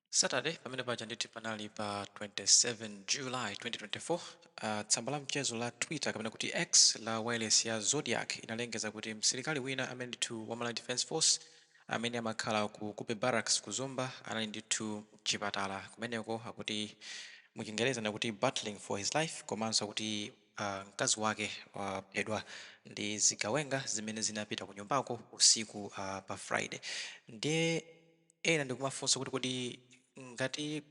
Saturday pamene paja ndithu panali pa 27 July 2024. Uh, tsamba la mchezo la Twitter kapena kuti X la wailesi ya Zodiak inalengeza kuti msilikali wina amene ndithu wa Malawi Defence Force amene amakhala ku Cobbe Barracks ku Zomba anali ndithu mchipatala kumeneko akuti muchingereza amati battling for his life komanso akuti uh, mkazi wake waphedwa ndi zigawenga zimene zinapita ku nyumbako usiku uh, pa Friday ndiye ena ndikumafunsa kuti kodi ngati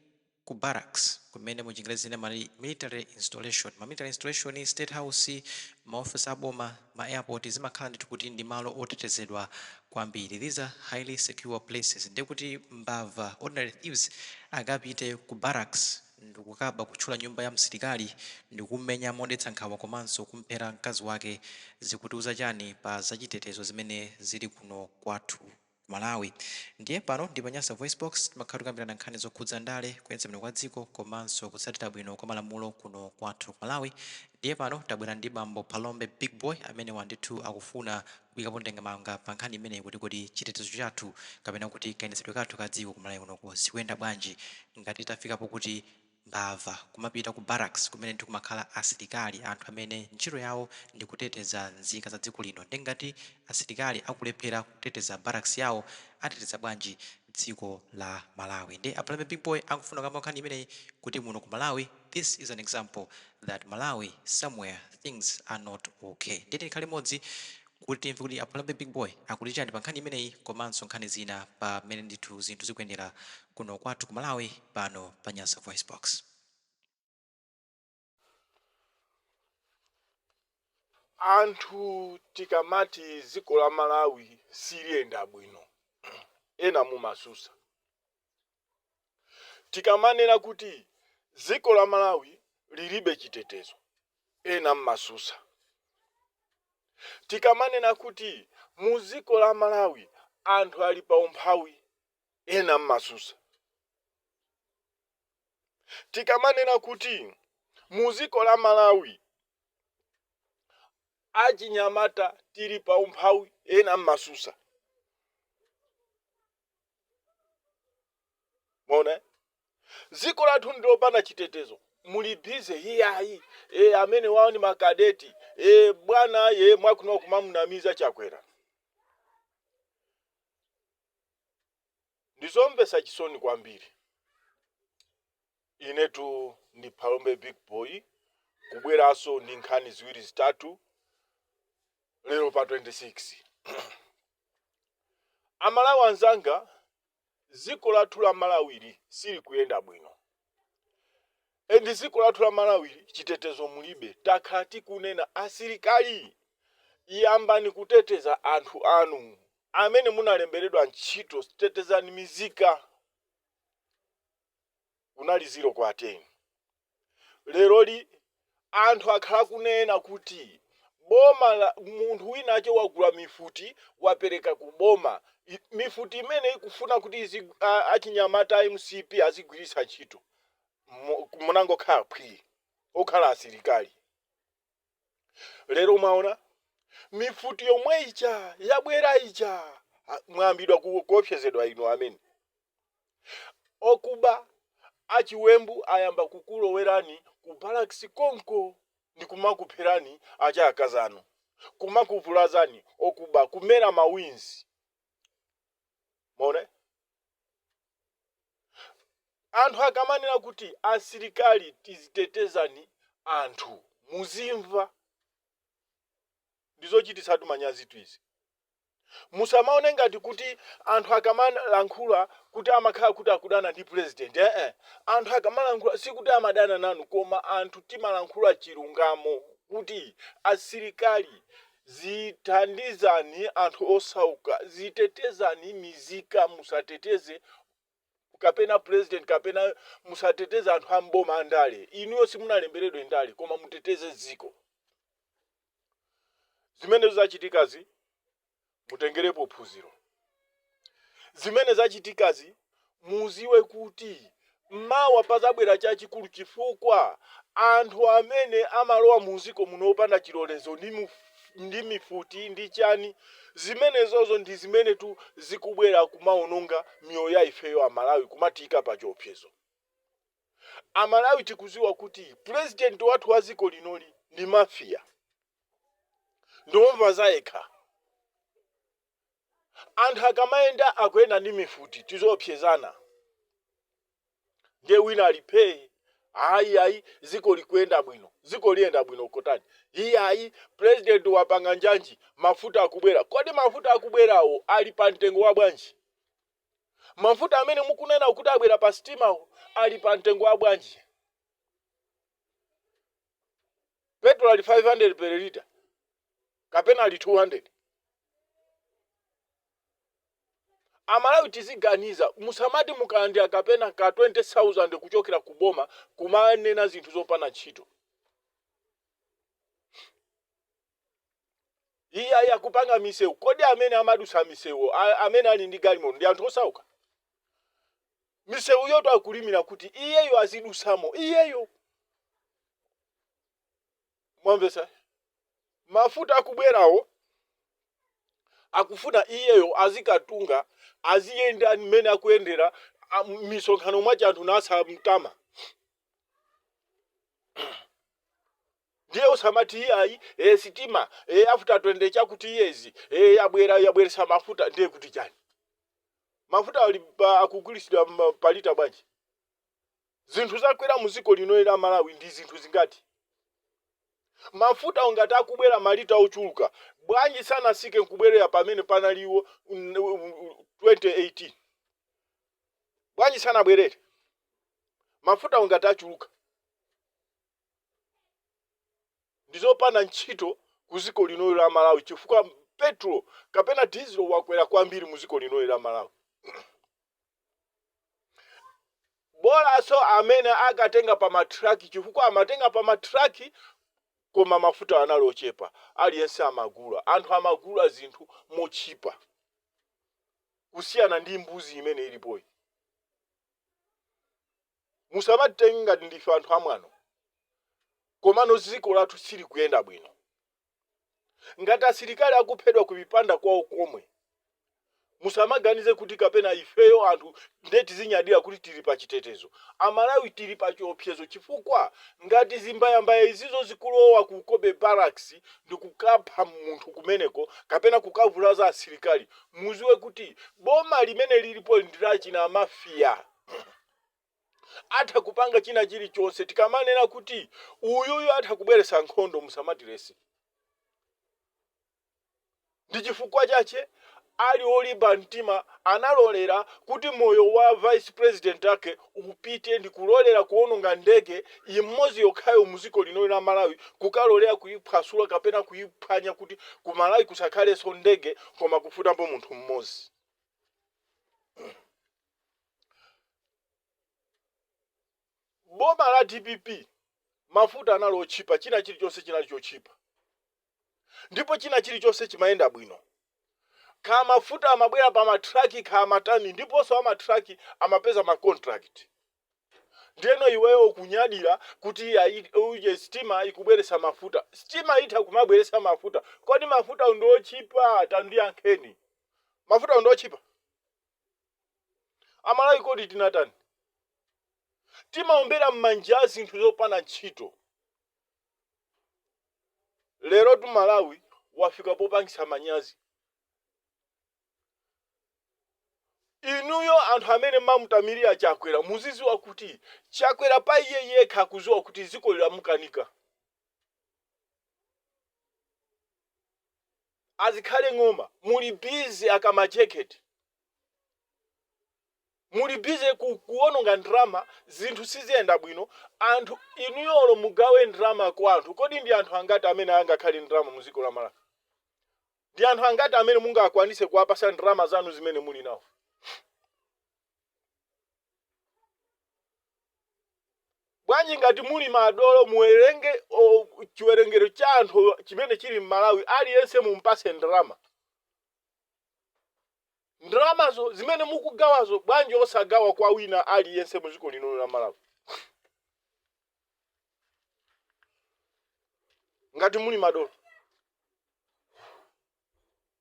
ku barracks kumene mu chingerezi ena amati military installation, ma military installation, state house, ma office a boma, ma airport zimakhala ndithu kuti ndi malo otetezedwa kwambiri, these are highly secure places, ndiye kuti mbava, ordinary thieves, akapite ku barracks ndikukaba, kuthyola nyumba ya msilikali ndikumumenya modetsa nkhawa komanso kumphera mkazi wake zikutiuza chani pa zachitetezo zimene zili kuno kwathu? Malawi. Ndiye pano ndi pa Nyasa VoiceBox, timakhala tikukambirana nkhani zokhudza ndale, kuyendetsa bwino kwa dziko komanso kutsatira bwino kwa malamulo kuno kwathu ku Malawi. Ndiye pano tabwera ndi bambo Phalombe Big Boy, amenewa ndithu akufuna kuyikapo ndemanga pa nkhani imeneyi kuti kodi chitetezo chathu kapena kuti kayendetsedwe kathu ka dziko ku Malawi kunoko zikuyenda bwanji ngati tafika pokuti mbava kumapita ku barracks kumene ndi kumakhala asilikali anthu amene ntchito yawo ndikuteteza nzika za dziko lino nde ngati asilikali akulephera kuteteza barracks yawo ateteza bwanji dziko la malawi nde a Phalombe big boy akufuna kukamba nkhani imeneyi kuti muno ku malawi this is an example that malawi somewhere things are not ok nde tikhale limodzi kuti timve kuti a Phalombe Big Boy akuti chani pa nkhani imeneyi komanso nkhani zina pa mmene ndithu zinthu zikuyendera kuno kwathu ku Malawi pano pa Nyasa VoiceBox. Anthu tikamati dziko la Malawi siliyenda bwino, ena mumasusa. Tikamanena kuti dziko la Malawi lilibe chitetezo, ena mmasusa. Tikamanena kuti mu dziko la Malawi anthu ali pa umphawi, ena mmasusa. Tikamanena kuti mu dziko la Malawi achinyamata tili pa umphawi, ena mmasusa. mwaona dziko lathu ndilopanda chitetezo muli bize iyayi e, amenewo ni makadeti e, bwana ye mwakuno kumamunamiza chakwera ndizomvesa chisoni kwambiri Inetu ndi Phalombe Big Boy kubweranso ndi nkhani ziwiri zitatu lero pa 26. Amalawi anzanga, dziko lathu la Malawili silikuyenda bwino. Ende dziko lathu la Malawili chitetezo mulibe. Takhala tikunena asilikali, yambani kuteteza anthu anu amene munalemberedwa ntchito, tetezani mizika. munali 0 kwa 10. Leroli anthu akhala akunena kuti boma la, munthu winache wagula mifuti wapereka ku boma, mifuti imene ikufuna kuti izi, a, achinyamata a mcp azigwiritsa ntchito. Munangokhala phwii okhala asilikali. lero mwaona mifuti yomwe ija yabwera ija mwayambidwa ku- kuopsezedwa inu amene okuba achiwembu ayamba kukulowerani ku barracks konko ndi kumakupherani azikazi anu kumakuvulazani okuba kumera mawinzi mwaona Anthu akamanena kuti asilikali muziteteza anthu muzimva. Ndizochititsatu manyazitu izi. Musamaone ngati kuti anthu akamalankhula kuti amakhala kuti akudana ndi pulezidenti eeh. Anthu akamalankhula sikuti amadana nanu koma anthu timalankhula chilungamo kuti asilikali Zithandizani anthu osauka, zitetezani mizika musateteze kapena president kapena musateteze anthu a m'boma andale inuyo simunalemberedwe ndale koma muteteze dziko zimene zachitikazi mutengerepo phunziro. zimene zachitikazi, muziwe kuti mawa pazabwera chachikulu chifukwa anthu amene amalowa muziko muno opanda chilolezo ndi, ndi mifuti ndi chani zimenezozo ndi zimenetu zikubwera kumaononga miyoyo ya ifeyo amalawi kumatiika pa chiopsezo amalawi tikuziwa kuti pulezidenti wathu wa ziko linoli ndi mafiya ndiomva zayekha anthu akamayenda akuyenda ndi mifuti tiziopsezana ndiye wina ali phee ayi ayi ziko likuyenda bwino ziko liyenda bwino kotani iyayi president wapanga njanji mafuta akubwera kodi mafuta akubwerawo ali pa mtengo wa bwanji mafuta amene mukunena kuti abwera pa sitimawo ali pa mtengo wa bwanji petrol ali 500 per liter kapena ali 200 amalawi tiziganiza musamati mukalandira kapena ka 20000 kuchokera ku boma kumanena zinthu zopanda ntchito Iyayi akupanga misewu. Kodi amene amadutsa misewuwo a- amene ali ndi galimoto ndi anthu osauka? Misewuyotu akulimira kuti iyeyo azidutsamo iyeyo. Mwamvetsa? Mafuta akubwerawo akufuna iyeyo azikatunga aziyenda mmene akuyendera a- m'misonkhano mwachemo anthu nasamtama. ndiye usamati iyayi e, sitima e, after 20 chakuti years e, yabwera yabweresa mafuta ndiye kuti chani mafuta ali pa- akugulitsidwa ma- palita bwanji zinthu zakwera mu dziko lino la malawi ndi zinthu zingati mafutawo ngati akubwera malita ochuluka bwanji sanasike nkubwerera pamene panalipo mm, mm, 2018 bwanji sanabwerere Mafutawo ngati achuluka ndizopanda ntchito ku ziko linoli la Malawi chifukwa petulo kapena dizilo wakwera kwambiri mu ziko linoli la Malawi. Bolaso amene akatenga pa ma truck chifukwa amatenga pa ma truck koma mafuta anali otchipa aliyense amagula. Anthu amagula zinthu motchipa kusiyana ndi mbuzi imene ilipoyi. musamatitenge ngati ndife anthu amwano komano dziko lathu silikuyenda bwino ngati asilikali akuphedwa ku mipanda kwawo komwe musamaganize kuti kapena ifeyo anthu nde tizinyadira kuti tili pa chitetezo amalawi tili pa chiopsezo chifukwa ngati zimbayambaya izizo zikulowa ku Cobbe barracks ndikukapha munthu kumeneko kapena kukavulaza asilikali muziwe kuti boma limene lilipoli ndi la chimafia atha kupanga china chilichonse tikamanena kuti uyuyu atha kubweretsa nkhondo musamatiletse ndi chifukwa chache ali olimba mtima analolera kuti moyo wa vice president ake upite ndikulolera kuononga ndege immozi yokhayo muziko lino la Malawi kukalolera kuiphwasula kapena kuiphwanya kuti ku Malawi kusakhaleso ndege koma kufafutapo munthu mmozi boma la dpp mafuta anali otchipa china chilichonse chinali chotchipa. ndipo china chilichonse chimayenda bwino. Kaya mafuta amabwera pa ma truck, kaya matani ndiponso ama truck amapeza ma contract. Ndiyeno iweyo ukunyadira kuti ayi uje sitima ikubweretsa mafuta. Sitima itha kumabweretsa mafuta. Kodi mafutawo ndi otchipa? Tandiyankheni. Mafutawo ndi otchipa? Amalawi kodi tinatani? Timaombera m'manja zinthu zopanda ntchito. Lerotu Malawi wafika popangitsa manyazi. Inuyo anthu amene mmamutamilira Chakwera muziziwa kuti Chakwera pa iye yekha akuziwa kuti dzikoli lamukanika. A Zikhale Ng'oma muli busy aka ma jacket. muli busy kuononga ndalama zinthu siziyenda bwino anthu inuyo olo mugawe ndalama kwa anthu kodi ndi anthu angati amene angakhale ndi ndalama mu dziko la Malawi ndi anthu angati amene mungakwanitse kuwapasa ndalama zanu zimene muli nawo bwanji ngati muli madolo muwerenge o, chiwerengero cha anthu chimene chili m'malawi aliyense mumpase ndalama Ndalamazo zimene mukugawazo bwanji osagawa kwa wina aliyense mu dziko lino la Malawi? Ngati muli madolo.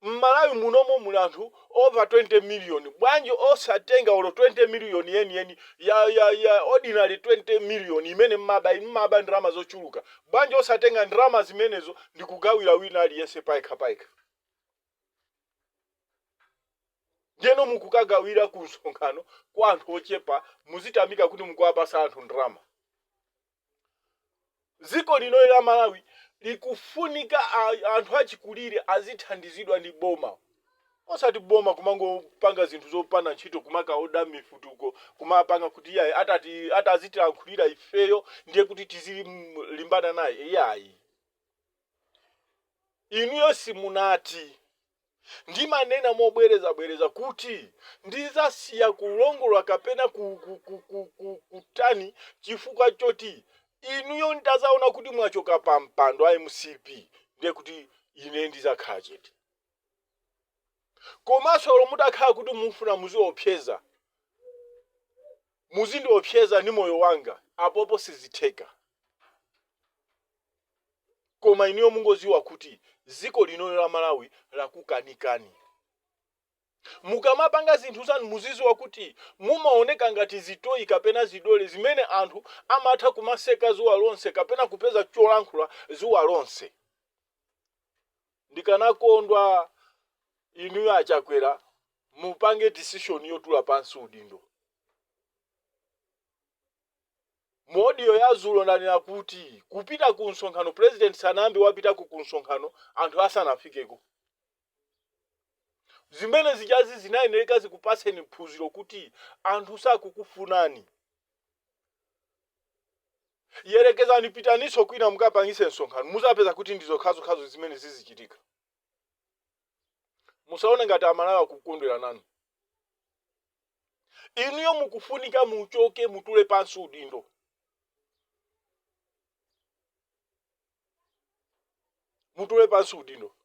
M'Malawi munomo muli anthu over 20 million. Bwanji osatenga olo 20 million yeniyeni ya, ya, ya ordinary 20 million imene mmaba inu mmaba ndalama zochuluka. Bwanji osatenga ndalama zimenezo ndikugawira wina aliyense payekha payekha. Ndiyeno mukukagawira ku msonkhano kwa anthu ochepa, muzitamika kuti mukuwapasa anthu ndalama. Dziko linoli la Malawi likufunika a, anthu achikulire azithandizidwa ndi boma. Osati boma kumangopanga zinthu zopanda ntchito kumakaoda mifuti uko kumapanga kuti iyayi atati atazitilankhulira ifeyo ndiye kuti tizilimbana naye. Iyayi. Inuyo simunati. Ndimanena mobwerezabwereza kuti ndizasiya kulongolola kapena ku, ku, ku, ku, ku, kutani chifukwa choti inuyo ntazaona kuti mwachoka pa mpando a mcp ndiye kuti ine ndizakhala chete. Komanso olo mutakhala kuti mufuna muziopseza, muzindiopseza ndi moyo wanga, apopo sizitheka. koma inuyo mungoziwa kuti ziko lino la malawi lakukanikani. mukamapanga zinthu zanu muziziwa kuti mumaoneka ngati zitoyi kapena zidole zimene anthu amatha kumaseka zuwa lonse kapena kupeza cholankhula zuwa lonse. ndikanakondwa inuyo a Chakwera mupange decision yotula pansi udindo. Mu audio ya dzulo ndanena kuti kupita ku msonkhano president sanayambe wapitako ku msonkhano anthu asanafikeko. Zimene zijazi zinayenereka zikupaseni phunziro kuti anthu sakukufunani. Yerekezani pitaninso kwina mukapangise msonkhano muzapeza kuti ndi zokhazokhazo zimene zizichitika. musaone ngati amalawi akukondwera nanu inuyo mukufunika muchoke mutule pansi udindo mutule pansi udindo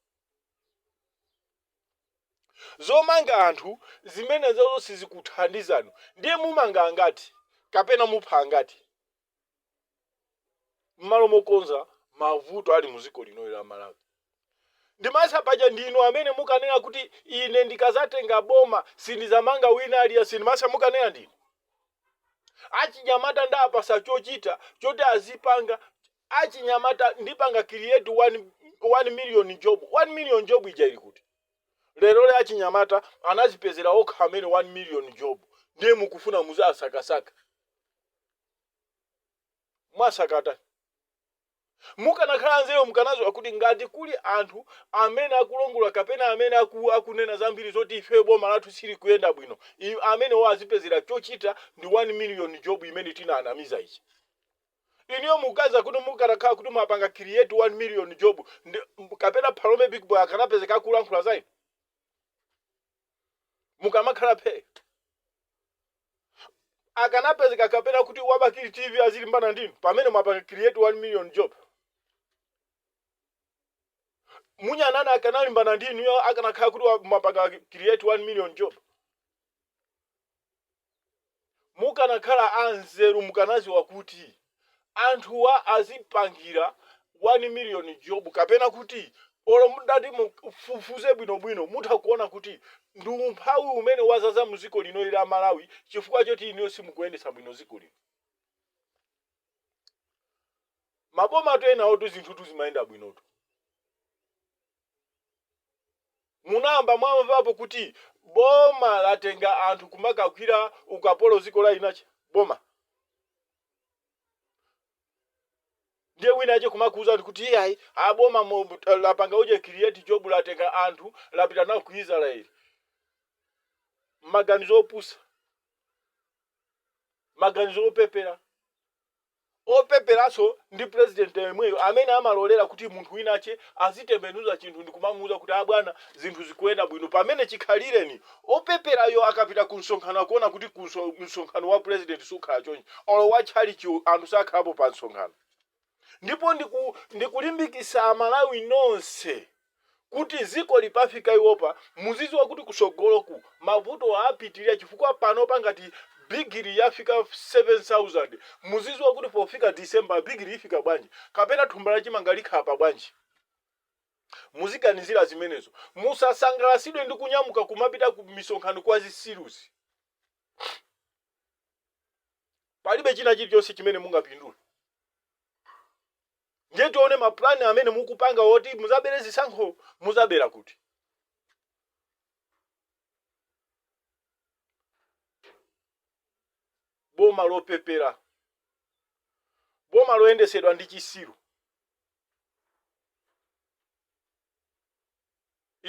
zomanga anthu zimenezozo sizikuthandizani ndiye mumanga angati kapena mupha angati mmalo mokonza mavuto ali muziko linoli la malawi ndimesa paja ndinu amene mukanena kuti ine ndikazatenga boma sindizamanga wina aliyense ndimesa mukanena ndinu achinyamata ndapatsa chochita choti azipanga achinyamata ndipanga create 1 1 million job 1 million job ija ili kuti lero le achinyamata anazipezera okha ameneyo 1 million job ndiye mukufuna muziwasakasaka Mwasakatani. Mukanakhala anzeru mukanaziwa kuti ngati kuli anthu amene akulongolola kapena amene aku akunena zambiri zoti ifeyo boma lathu silikuyenda bwino i amenewo tiwapezere chochita ndi 1 million job imene tinaanamiza ija. Inuyo mukuganiza kuti mukanakhala kuti mwapanga create 1 million job nde kapena Phalombe big boy akanapezeka akulankhula zainu? mukamakhala phee. akanapezeka kapena kuti wa bakili TV azilimbana ndinu pamene mwapanga create 1 million job. munya nane akanalimbana ndinuyo akanakhala kuti wa- mwapanga create 1 million job. Mukanakhala anzeru mukanaziwa kuti anthuwa tiwapangira 1 million job kapena kuti olo mutati mufufuze bwino bwino mutha kuona kuti ndi umphawi umene wazaza muziko linoli la Malawi chifukwa choti inuyo simukuyendetsa bwino ziko lino. Mabomatu enawotu zinthutu zimayenda bwinotu. Munayamba mwamvapo kuti boma latenga anthu kumakagwira ukapolo ziko la inache? Boma ndiye wina ache kumakuuzani kuti iyayi a boma lapanga uje create job latenga anthu lapita nao ku Israel. Maganizo opusa, maganizo opepera. opeperanso ndi president yemweyo amene amalolera kuti munthu winache azitembenuza chinthu ndikumamuuza kuti a bwana zinthu zikuenda bwino pamene chikhalireni opeperayo akapita ku msonkhano akuona kuti ku msonkhano wa president sukhala chonchi olo wa tchalichi anthu sakhalapo pa msonkhano ndipo ndikulimbikisa amalawi nonse kuti ziko likafika apapa muziziwa kuti kusogoloku mavuto apitilira chifukwa panopa ngati bigili yafika 7000 muziziwa kuti pofika December bigili ifika bwanji kapena thumba la chimanga likhala pa bwanji muziganizira zimenezo musasangalasidwe ndi kunyamuka kumapita ku misonkhano kwa zisiruzi palibe china chilichonse chimene mungapindule. Ndiye tione ma plan amene mukupanga oti muzabele zisankho muzabela kuti? Boma lopepela. Boma loyendesedwa ndi chisiru.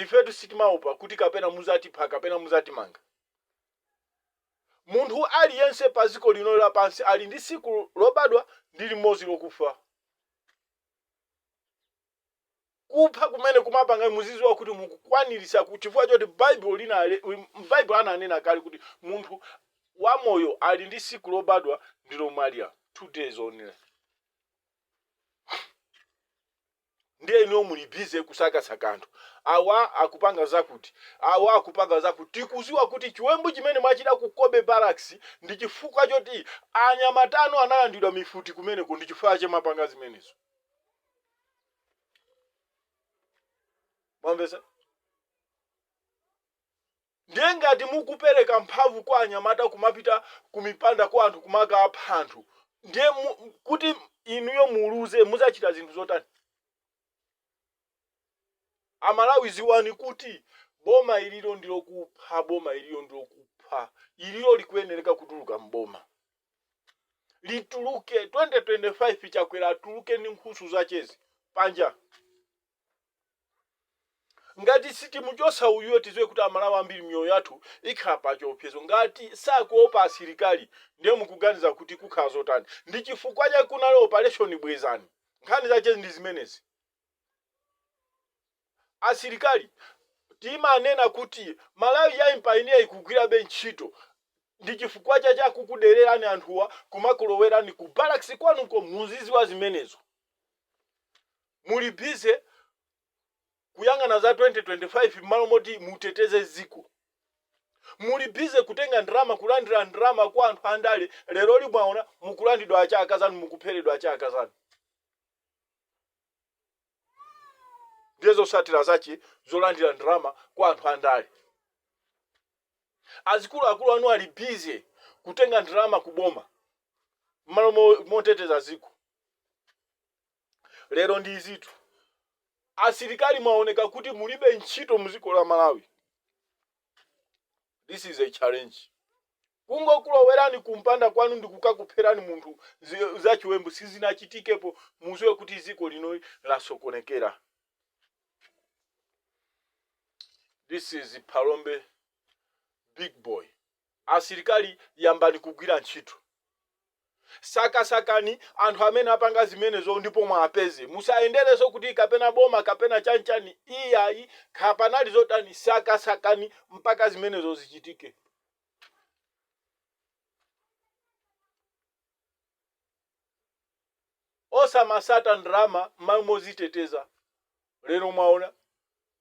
Ifetu sitimaopa kuti kapena muzatipha kapena muzatimanga. Munthu ali yense pa ziko lino la pansi ali ndi siku lobadwa ndi limozi lokufa. Kupha kumene kumapanga muziziwa kuti mukukwanilisa chifukwa choti Baibulo ananena kale kuti munthu wa moyo ali ndi siku lobadwa ndi lomwalila 2 days only. ndiye inuyo muli busy kusakasaka anthu awa akupanga zakuti awa akupanga zakuti tikuziwa kuti chiwembu chimene mwachita ku Cobbe Barracks ndi chifukwa choti anyamata anu analandidwa mifuti kumeneko ndi chifukwa chake mwapanga zimenezo mwamvesa Ndiye ngati mukupereka mphamvu kwa anyamata kumapita kumipanda kwa anthu kumakapha anthu, ndiye kuti inuyo muluze muzachita zinthu zotani? Amalawi ziwani kuti boma ililo ndilokupha boma ililo ndilokupha ililo likuyenereka kutuluka m'boma lituluke 2025 chakwera atuluke ndi nkhusu zachezi panja. Ngati sitimuchotsa uyuyu tidziwe kuti amalawi ambiri miyoyo yathu ikhala pachiopsezo. Ngati sakuopa asilikali ndiye mukuganiza kuti kukhala zotani? Ndichifukwa chake kunali operation bwezani. Nkhani zache ndizimenezi. Asilikali timanena kuti Malawi young pioneer ikugwirabe ntchito ndichifukwa chache akukudelerani anthuwa kumakulowerani ku barracks kwanuko muzidziwa zimenezo. Muli busy kuyang'ana za 2025 mmalo moti muteteze dziko. Muli busy kutenga ndalama kulandira ndalama kwa anthu andale leroli mwaona mukulandidwa achaakazi anu mukupheredwa achaakazi anu. Ndiye zosatira zache zolandira ndalama kwa anthu andale. Azikulu akulu anu ali busy kutenga ndalama ku boma mmalo moteteza dziko. Lero ndi izitu. Asilikali mwaoneka kuti mulibe ntchito muziko la Malawi. This is a challenge. Kungokulowerani kumpanda kwanu ndi kukakupherani munthu za chiwembu sizinachitikepo muziwe kuti ziko linoli lasokonekera. This is Phalombe big boy. Asilikali yambani kugwira ntchito. Sakasakani anthu amene apanga zimenezo ndipo muwapeze. Musayendereso kuti kapena boma kapena chani chani iyayi kapanali zotani sakasakani mpaka zimenezo zichitike. Osamasata ndalama mmalo moziteteza. Lero mwaona.